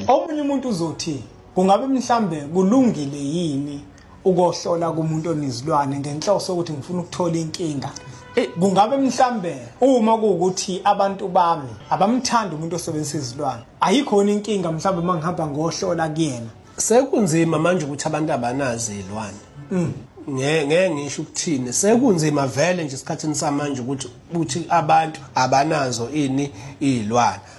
Omunye umuntu uzothi kungabe mhlambe kulungile yini ukohlola kumuntu onezilwane ngenhloso ukuthi ngifuna ukuthola inkinga eh, kungabe mhlambe uma kuwukuthi abantu bami abamthanda umuntu osebenzisa izilwane ayikhona inkinga mhlambe uma ngihamba ngohlola kuyena sekunzima manje ukuthi abantu abanazi izilwane mm. ngeke ngisho ukuthini sekunzima vele nje esikhathini samanje ukuthi ukuthi abantu abanazo ini izilwane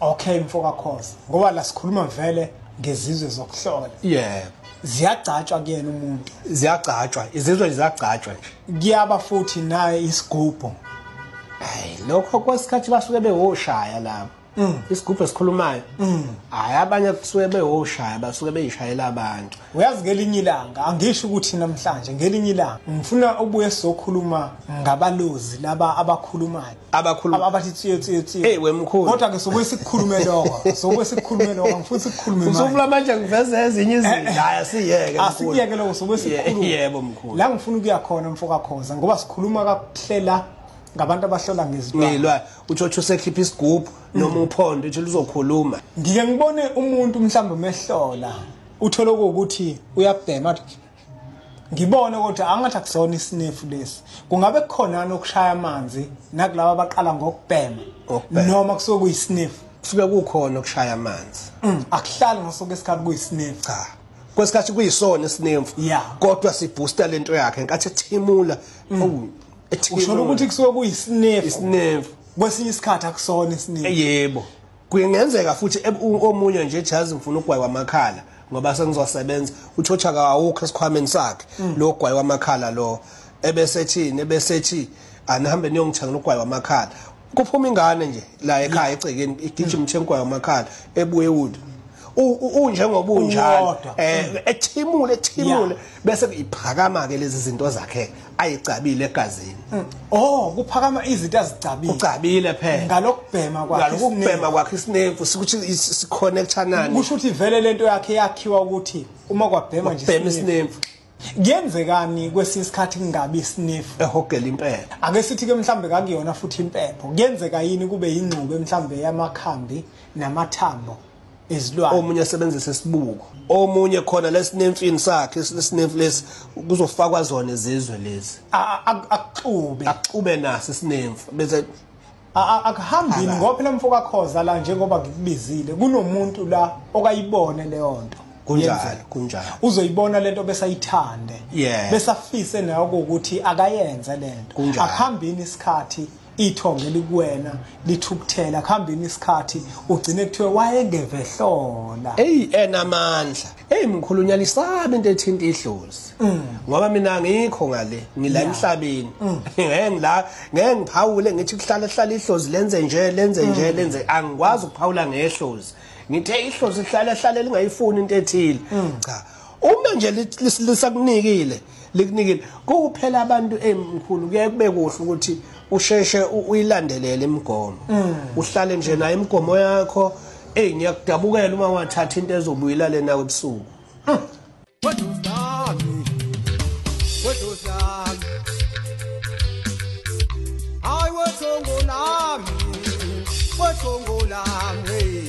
Okay mfo kaKhoza ngoba la sikhuluma vele ngezizwe zokuhlola. Yebo. Ziyagcatshwa kuyena umuntu. Ziyagcatshwa, izizwe ziyagcatshwa nje. Kuyaba futhi naye isigubhu. Hayi lokho kwesikhathi basuke bewoshaya labo. Mm. Isigubhu esikhulumayo. Mm. Hayi abanye kusuke bewoshaya basuke beyishayela abantu. Uyazi ngelinye ilanga angisho ukuthi namhlanje ngelinye ilanga ngifuna ubuye sokhuluma ngabalozi laba abakhulumayo. abakhuluma Aba- abathi tsiye tsiye tsiye hey wemkhulu kodwa ke sokuye sikukhulume lokho sokuye sikukhulume lokho ngifuna sikukhulume manje usufuna manje ngiveze ezinye izinto hayi asiyeke mkhulu. asikuyeke lokho sokuye Ye- sikukhulume yebo mkhulu la ngifuna ukuya khona mfokakhoza ngoba sikhuluma kakuhlela ngabantu abahlola ngezilwane ngilwa utshotsho usekhipha isigubhu noma uphondo utsho luzokhuluma ngike ngibone umuntu mhlawumbe umehlola uthole ukuthi uyabhema athi, ngibone ukuthi angathi akusona isinefu lesi kungabe kukhonani okushaya amanzi nakulabo abaqala ngokubhema noma kusuke kuyisinefu kusuke kukhona okushaya amanzi mm, akuhlali ngasoke isikhathi kuyisinefu cha kwesikhathi kuyisona isinefu kodwa siboosta lento yakhe nkathi ethimula mm. usho ukuthi kusuke kuyisinefu isinefu kwesinye isikhathi akusona isinefu yebo Kungenzeka futhi omunye nje ethi yazi ngifuna ugwayi wamakhala ngoba sengizosebenza utshotsha kawukho esikhwameni sakhe mm. lo gwayi wamakhala lo ebesethini ebesethi anihambe niyongithengela ugwayi wamakhala kuphuma ingane nje la ekhaya egcekeni igijima uthengwayo amakhala ebuye wood unjengoba unjalo eh ethimule ethimule bese iphakama ke lezi zinto zakhe ayigcabile egazini mm. oh kuphakama izinto azigcabile ugcabile phela ngalokubhema kwakhe ngalokubhema kwakhe isinemfu sikuthi siconnecta nani kusho ukuthi vele lento yakhe yakhiwa ukuthi uma kwabhema nje bhema isinemfu kuyenzekani kwesinye isikhathi kungabi isinefu ehogela impepho ake sithi ke mhlambe kakuyona futhi impepho kuyenzeka yini kube yingxube mhlambe yamakhambi namathambo izilwane omunye asebenzisa isibuko omunye khona lesinemfini sakhe lesinemfi lesi kuzofakwa zona izizwe lezi akuxube akuxube naso isinemfi bese akuhambini ngoba phela mfoka khoza la njengoba ngikubizile kunomuntu la okayibone leyo nto kunjalo kunjalo uzoyibona lento besayithande yeah. besafise nayo ukuthi akayenze lento akuhambini isikhathi ithonga elikuwena lithukuthela kuhambeni isikhathi ugcine kuthiwe wayengevehlola eyi enamandla eyi mkhulu unyalisabi into ethinta idlozi mm. ngoba mina ngikho ngale ngila emhlabeni mm. ngeke ngila ngeke ngiphawule ngithi kuhlala hlala idlozi lenze nje lenze nje mm. lenze angikwazi ukuphawula ngehlozi ngithe idlozi hlala hlala lingayifuni into ethile cha uma nje lisakunikile likunikile kuphela abantu emkhulu kuye kube kuhle ukuthi usheshe uyilandelele imigomo mm. uhlale nje naye imigomo yakho eyi ngiyakudabukela uma wathatha into ezobuyela lena kwebusuku mm. Hayi wethongo lami wethongo lami